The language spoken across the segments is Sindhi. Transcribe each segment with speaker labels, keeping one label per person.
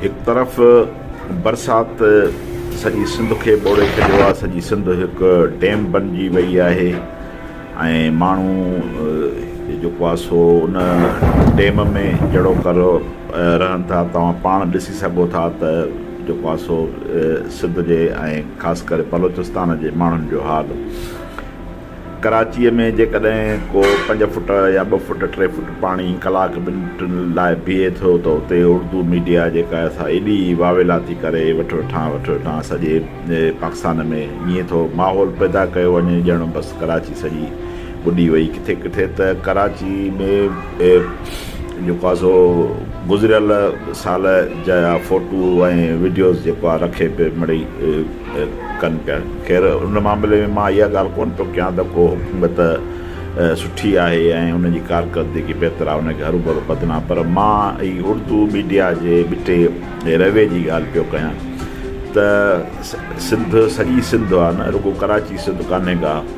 Speaker 1: هڪ طرف برسات سڄي سنڌ کي ٻوڙي ڇڏيو آهي، سڄي سنڌ هڪ ڊيم بنجي وئي آهي ۽ ماڻهو جيڪو آهي سو ان ڊيم ۾ جهڙو ڪر رهن ٿا توهان پاڻ ڏسي سگهو ٿا ته جيڪو آهي سو سنڌ جي ۽ خاص ڪري بلوچستان جي ماڻهن جو حال ڪراچيء ۾ جيڪڏهن ڪو پنج فٽ يا ٻه فٽ ٽي فٽ پاڻي ڪلاڪ ٻن ٽن لاء بيهي ٿو ته اتي اردو ميڊيا جيڪا آهي سا ايڏي واويلا ٿي ڪري وٺ وٺان وٺ وٺان سڄي پاڪستان ۾ ائين ٿو ماحول پيدا ڪيو وڃي ڄڻ بس ڪراچي سڄي ٻڏي وئي ڪٿي ڪٿي ته ڪراچي ۾ جيڪو آهي سو گذريل سال جا فوٽو ۽ وڊيوز جيڪو آهي رکي پئي مڙئي ڪن پيا. خير ان معاملي ۾ مان اها ڳالهه ڪونه ٿو ڪيان ته ڪو حڪومت سٺي آهي ۽ ان جي ڪارڪردگي بهتر آهي ان کي هروڀرو بدنام پر مان هي اردو ميڊيا جي ٻٽي رويي جي ڳالهه پيو ڪيان ته سنڌ سڄي سنڌ آهي نه رڳو ڪراچي سنڌ ڪانهي ڪا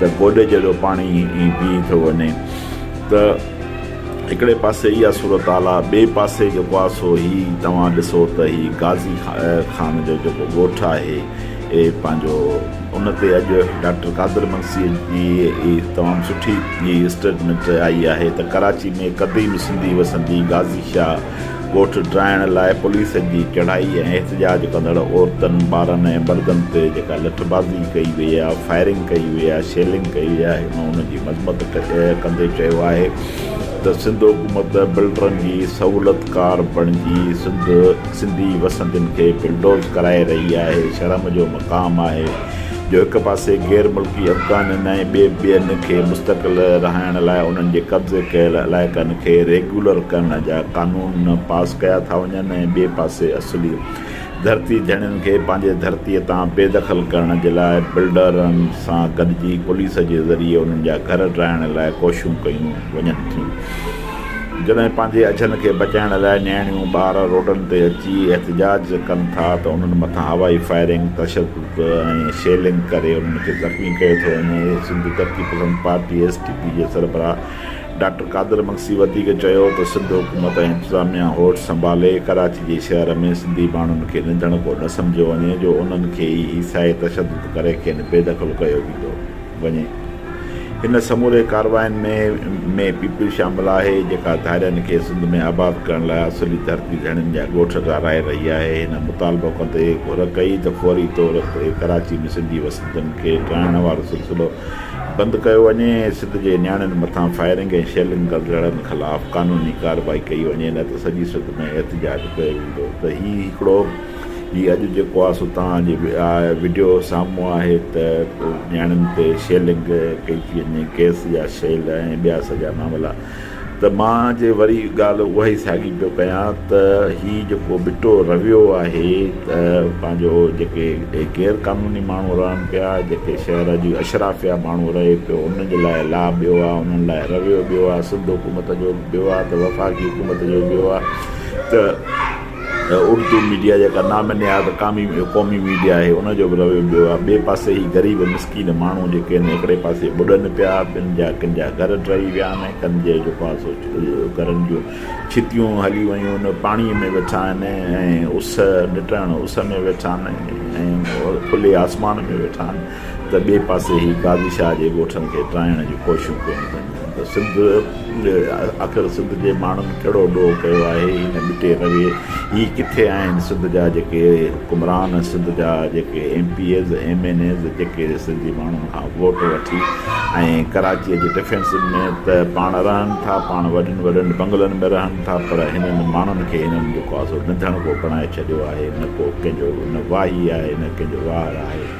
Speaker 1: ته گوڏي جهڙو پاڻي ائين پيئي ٿو وڃي ته هڪڙي پاسي اها صورتحال آهي ٻئي پاسي جيڪو آهي سو هي توهان ڏسو ته هي غازي خان جو جيڪو ڳوٺ آهي اهي پنهنجو ان تي اڄ ڊاڪٽر قادر منسيء جي اهي تمام سٺي جي اسٽيٽمينٽ آئي آهي ته ڪراچي ۾ قديم سنڌي وسندي غازي شاهه ڳوٺ ڊاهڻ لاء پوليس جي چڙهائي ۽ احتجاج ڪندڙ عورتن، ٻارن ۽ مردن تي جيڪا لٺ بازي ڪئي وئي آهي، فائرنگ ڪئي وئي آهي، شيلنگ ڪئي وئي آهي ان جي مذمت ڪندي چيو آهي ته سنڌ حڪومت بلڊرن جي سهولتڪار بڻجي سنڌ سنڌي وسندين کي بلڊوز ڪرائي رهي آهي شرم جو مقام آهي. جو هڪ پاسي غير ملڪي افغانن ۽ ٻئي ٻين کي مستقل رهائڻ لاء انهن جي قبضي ڪيل علائقن کي ريگيولر ڪرڻ جا قانون پاس ڪيا ٿا وڃن ۽ ٻئي پاسي اصلي ڌرتي ڌڻين کي پنهنجي ڌرتي تان بي دخل ڪرڻ جي لاء بلڊرن سان گڏجي پوليس جي ذريعي انهن جا گهر ڊاهڻ لاء ڪوششون ڪيون وڃن ٿيون جڏهن پنهنجي اجهن کي بچائڻ لاء نياڻيون ٻار روڊن تي اچي احتجاج ڪن ٿا ته انهن مٿان هوائي فائرنگ تشدد به ۽ شيلنگ ڪري انهن کي زخمي ڪيو ٿو وڃي. Sindh Taraqi Pasand party, S T P, جي سربراهه ڊاڪٽر قادر مگسي وڌيڪ چيو ته سنڌ حڪومت ۽ انتظاميا هوش سنڀالي ڪراچي جي شهر ۾ سنڌي ماڻهن کي ننڌڻڪو نه سمجهيو وڃي جو انهن کي ئي هي سائي تشدد ڪري کين بيدخل ڪيو ويندو. وڃي. هن سموري ڪاررواين ۾ ۾ پي پي شامل آهي، جيڪا ڌارين کي سنڌ ۾ آباد ڪرڻ لاء اصلي ڌرتي ڌڻين جا ڳوٺ ڳارائي رهي آهي. هن مطالبو ڪندي گهر ڪئي ته فوري طور تي ڪراچي ۾ سنڌي وسندين کي ٽاهڻ وارو سلسلو بند ڪيو وڃي ۽ سنڌ جي نياڻين مٿان فائرنگ ۽ شيلنگ ڪندڙن خلاف قانوني ڪارروائي ڪئي وڃي نه ته سڄي سنڌ ۾ احتجاج ڪيو ويندو ته هي هڪڙو هي اڄ جيڪو آ سو توهان جي وڊيو سامهون آهي ته نياڻين تي شيلنگ ڪئي ٿي وڃي گئس جا شيل ۽ ٻيا سڄا معاملا ته مان جي وري ڳالهه اها ئي ساڳي پيو ڪيان ته هي جيڪو ٻٽو رويو آهي ته پنهنجو جيڪي غير قانوني ماڻهو رهن پيا جيڪي شهر جي اشرافيا ماڻهو رهي پيو انهن جي لاء لا ٻيو آ انهن لاء رويو ٻيو آ سنڌ حڪومت جو ٻيو آ ته وفاقي حڪومت جو ٻيو آ ته اردو ميڊيا جيڪا نام نهاد قومي ميڊيا آهي ان جو به رويو ٻيو آهي ٻئي پاسي هي غريب مسڪين ماڻهو جيڪي آهن هڪڙي پاسي ٻڏن پيا ٻن جا ڪن جا گهر ڊهي ويا آهن ۽ ڪن جي جيڪو آهي سو گهرن جون ڇتيون هلي ويون آهن پاڻي ۾ ويٺا آهن ۽ اس نٽهڻ اس ۾ ويٺا آهن ۽ کلي آسمان ۾ ويٺا آهن ته ٻئي پاسي هي قاضي شاهه جي ڳوٺن کي ٽاهڻ جون ڪوششون ڪيون وڃن ته سنڌ آخر سنڌ جي ماڻهن ڪهڙو ڏوهه ڪيو آهي هن ٻٽي روي هي ڪٿي آهن سنڌ جا جيڪي حڪمران سنڌ جا جيڪي M P As M N As جيڪي سنڌي ماڻهن کان ووٽ وٺي ۽ ڪراچيء جي ڊفينس ۾ ته پاڻ رهن ٿا پاڻ وڏن وڏن بنگلن ۾ رهن ٿا پر هنن ماڻهن کي هنن جيڪو آسو نڌڻ ڪو بڻائي ڇڏيو آهي نه ڪو ڪنهن جو نه واهي آهي نه ڪنهن جو واهر آهي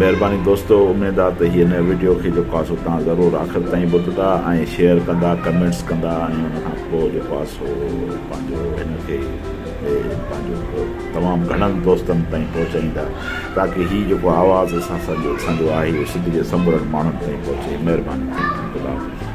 Speaker 1: مهرباني دوستو اميد آ ته هي نئين وڊيو کي جيڪو آ سو توهان ضرور آخر تائين ٻڌندا ۽ شيئر ڪندا ڪمينٽس ڪندا ۽ ان کان پوء جيڪو آ سو پنهنجو هن کي پنهنجو تمام گهڻن دوستن تائين پهچائيندا تاڪه هي جيڪو آواز اسان سان جو اسان جو آهي اهو سنڌ جي سمورن ماڻهن تائين پهچي مهرباني ٿينڪ يو خدا حافظ